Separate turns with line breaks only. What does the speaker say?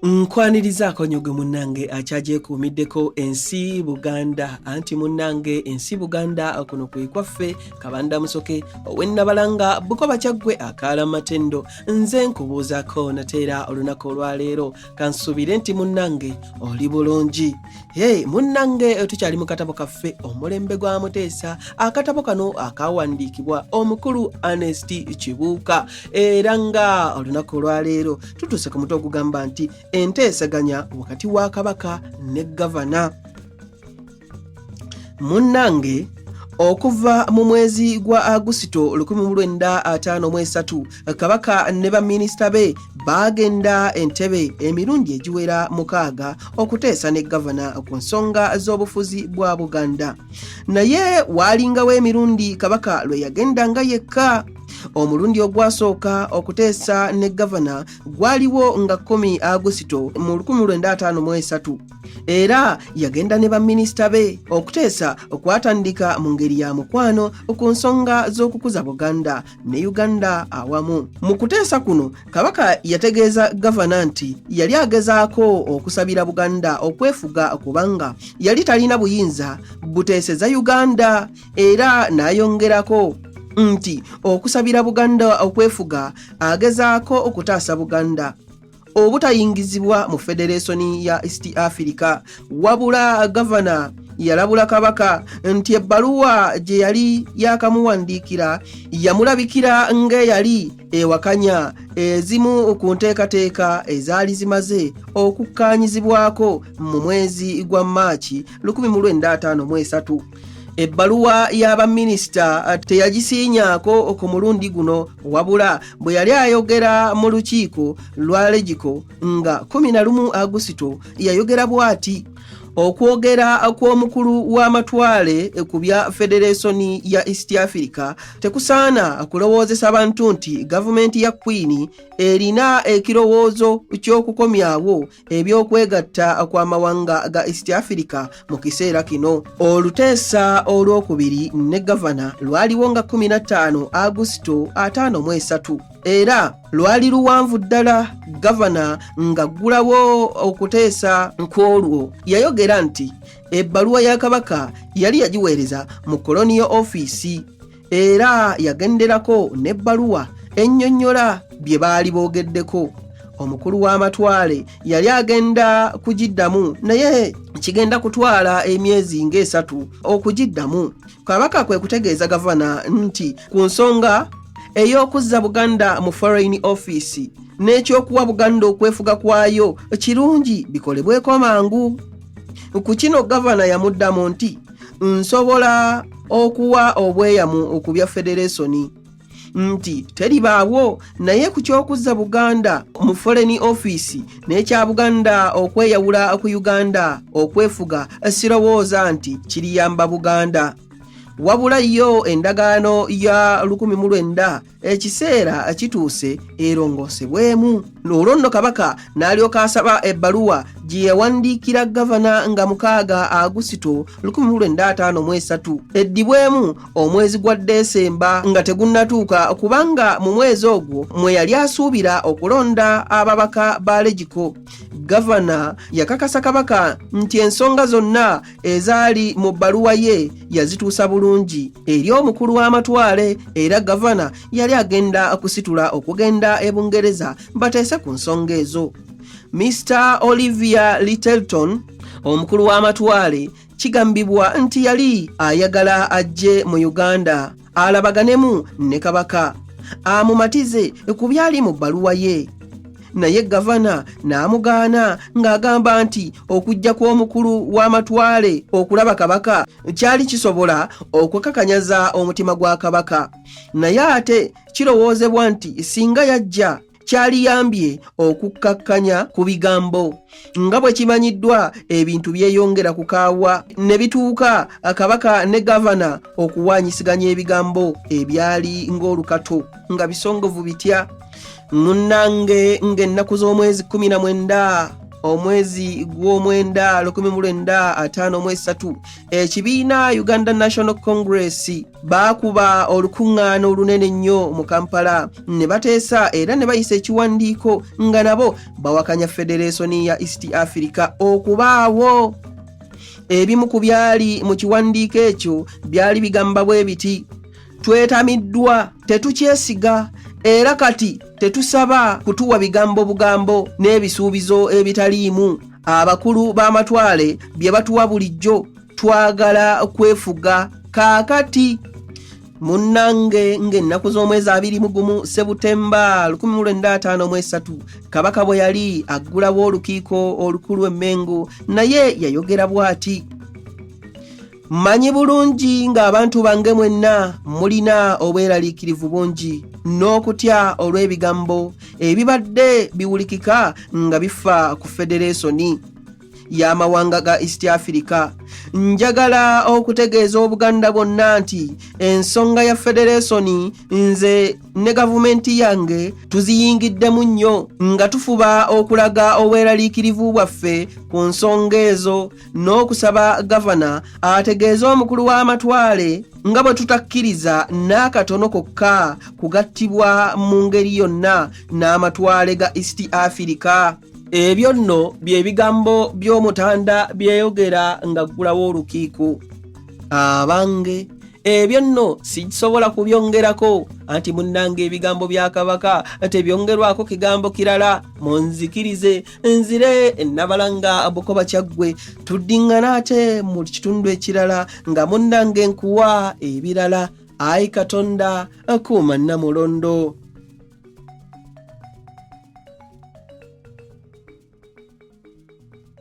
nkwaniriza akonyogo munnange akyagyekuumiddeko ensi buganda anti munnange ensi buganda kuno kwe kwaffe kabanda musoke owennabalanga bukoba kyaggwe akaala matendo nze nkubuuzako nateera olunaku olwaleero kansuubire nti munnange oli bulungi Hey, munnange eh, tukyali mu katabo kaffe omulembe gwa muteesa akatabo kano akawandiikibwa omukulu Ernest Kibuuka era nga olunaku olwaleero tutuuse ku muto ogugamba nti enteesaganya wakati wa kabaka ne gavana munnange okuva mu mwezi gwa agusito 1953 kabaka ne baminisita be baagenda entebe emirundi egiwera mukaaga okuteesa ne gavana ku nsonga z'obufuzi bwa buganda naye waalingawo emirundi kabaka lwe yagendanga yekka omulundi ogwasooka okuteesa ne gavana gwaliwo nga 1 agusito mu 1953 era yagenda ne baminisita be okuteesa okwatandika mu ngeri ya mukwano ku nsonga z'okukuza buganda ne uganda awamu mu kuteesa kuno kabaka yategeeza gavana nti yali agezaako okusabira buganda okwefuga kubanga yali talina buyinza buteeseza uganda era n'ayongerako nti okusabira buganda okwefuga agezaako okutaasa buganda obutayingizibwa mu federeesoni ya east africa wabula gavana yalabula kabaka nti ebbaluwa gye yali yakamuwandiikira yamulabikira ng'eyali ewakanya ezimu ku nteekateeka ezaali zimaze okukkaanyizibwako mu mwezi gwa maaki 1953 ebbaluwa ya baminisita uh, teyagisiinyaako ku mulundi guno wabula bwe yali ayogera mu lukiiko lwa legiko nga 11 agusito yayogera bw'ati okwogera kw'omukulu w'amatwale ku bya federeesoni ya east africa tekusaana kulowoozesa bantu nti gavumenti ya kwini erina ekirowoozo ky'okukomyawo eby'okwegatta kw'amawanga ga east africa mu kiseera kino oluteesa olw'okubiri ne gavana lwaliwo nga 15 agusito 5 mu esatu era lwali luwanvu ddala gavana ng'aggulawo okuteesa nkw'olwo yayogera nti ebbaluwa ya kabaka yali yagiweereza mu koloniyo ofiisi era yagenderako n'ebbaluwa ennyonnyola bye baali boogeddeko omukulu w'amatwale yali agenda kugiddamu naye kigenda kutwala emyezi ng'esatu okugiddamu kabaka kwe kutegeeza gavana nti ku nsonga ey'okuzza buganda mu foreign office n'ekyokuwa buganda okwefuga kwayo kirungi bikolebweko mangu ku kino gavana yamuddamu nti nsobola okuwa obweyamu ku bya federeesoni nti teribaawo naye ku ky'okuzza buganda mu foreni ofiisi n'ekya buganda okweyawula ku uganda okwefuga sirowooza nti kiriyamba buganda wabula yo endagaano ya 19 ekiseera kituuse erongosebwemu olwo nno kabaka n'alyoka asaba ebbaluwa gye yawandiikira gavana nga mukaaga agusito 1953 eddibwemu omwezi gwa desemba nga tegunnatuuka kubanga mu mwezi ogwo mwe yali asuubira okulonda ababaka ba legiko gavana yakakasa kabaka nti ensonga zonna ezaali mu bbaluwa ye yazituusa bulungi eri omukulu w'amatwale era gavana yali agenda kusitula okugenda e bungereza bateese ku nsonga ezo mr olivia littleton omukulu w'amatwale kigambibwa nti yali ayagala ajje mu uganda alabaganemu ne kabaka amumatize ku byali mu bbaluwa ye naye gavana n'amugaana ng'agamba nti okujja kw'omukulu w'amatwale okulaba kabaka kyali kisobola okukakanyaza omutima gwa kabaka naye ate kirowoozebwa nti singa yajja kyaliyambye okukkakkanya ku bigambo nga bwe kimanyiddwa ebintu byeyongera ku kaawa ne bituuka kabaka ne gavana okuwaanyisiganya ebigambo ebyali ng'olukato nga bisongovu bitya munnange ng'ennaku z'omwezi 19 omwezi gw'omwenda 1953 ekibiina uganda national congress baakuba olukuŋŋaana olunene ennyo mu kampala ne bateesa era ne bayisa ekiwandiiko nga nabo bawakanya federeesoni ya east africa okubaawo ebimu ku byali mu kiwandiiko ekyo byali bigamba bwe biti twetamiddwa tetukyesiga era kati tetusaba kutuwa bigambo bugambo n'ebisuubizo ebitaliimu abakulu b'amatwale bye batuwa bulijjo twagala kwefuga kaakati munnange ng'ennaku z'omwezi abiri mu gumu sebutemba 1953 kabaka bwe yali aggulawo olukiiko olukulu emmengo naye yayogera bw'ati Mmanyi bulungi ng'abantu bange mwenna mulina obweraliikirivu bungi n'okutya olw'ebigambo ebibadde biwulikika nga bifa ku federeesoni y'amawanga ga East Africa. Njagala okutegeeza Obuganda bwonna nti ensonga ya federeesoni nze ne gavumenti yange tuziyingiddemu nnyo nga tufuba okulaga obweraliikirivu bwaffe ku nsonga ezo n'okusaba gavana ategeeze omukulu w'amatwale nga bwe tutakkiriza n'akatono kokka kugattibwa mu ngeri yonna n'amatwale ga east afirika ebyo nno bye bigambo by'omutanda byeyogera ng'aggulawo olukiiko abange ebyo nno sikisobola kubyongerako anti munnanga ebigambo bya kabaka tebyongerwako kigambo kirala munzikirize nzire enabalanga bukoba kyaggwe tuddingana ate mu kitundu ekirala nga munnange nkuwa ebirala ayi katonda akuuma namulondo